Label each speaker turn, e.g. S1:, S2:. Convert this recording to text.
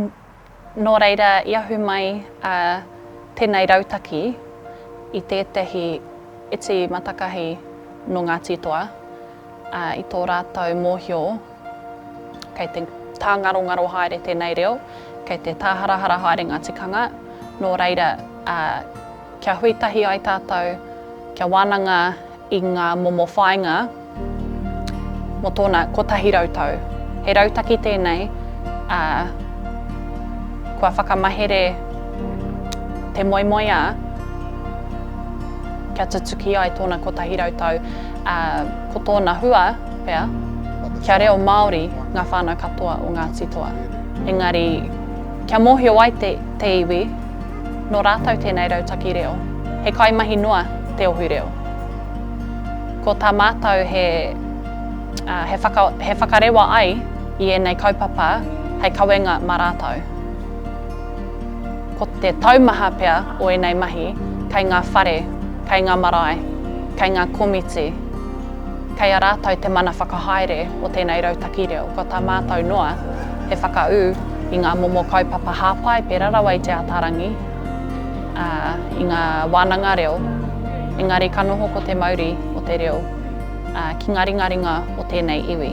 S1: Nō reira, i ahu mai a tēnei rautaki i tētahi iti matakahi nō Ngāti Toa, ā, i tō rātou mōhio, kei te tāngarongaro haere tēnei reo, kei te tāharahara haere ngā tikanga, nō reira, ā, kia hui tahi ai tātou, kia wānanga i ngā momo whāinga mō tōna kotahi rau tau. He rautaki tēnei, ā, kua whakamahere te moemoeā kia tutuki ai tōna kotahi rau tau, ā, ko tōna hua pea, kia reo Māori ngā whānau katoa o Ngāti Toa. Engari, kia mōhio ai te iwi, Nō rātou tēnei rautaki reo. He kaimahi noa te Ohu Reo. Ko tā mātou he he whakarewa ai i ēnei kaupapa hei kawenga mā rātou. Ko te taumaha pea o ēnei mahi kei ngā whare, kei ngā marae, kei ngā komiti. Kei a rātou te mana whakahaere o tēnei rautaki reo, kua tā mātou noa he whakaū i ngā momo kaupapa hāpai pērā rawa i Te Ātaarangi, ā, i ngā wānanga reo, engari ka noho ko te mauri o te reo, ā, ki ngā ringaringa o tēnei iwi.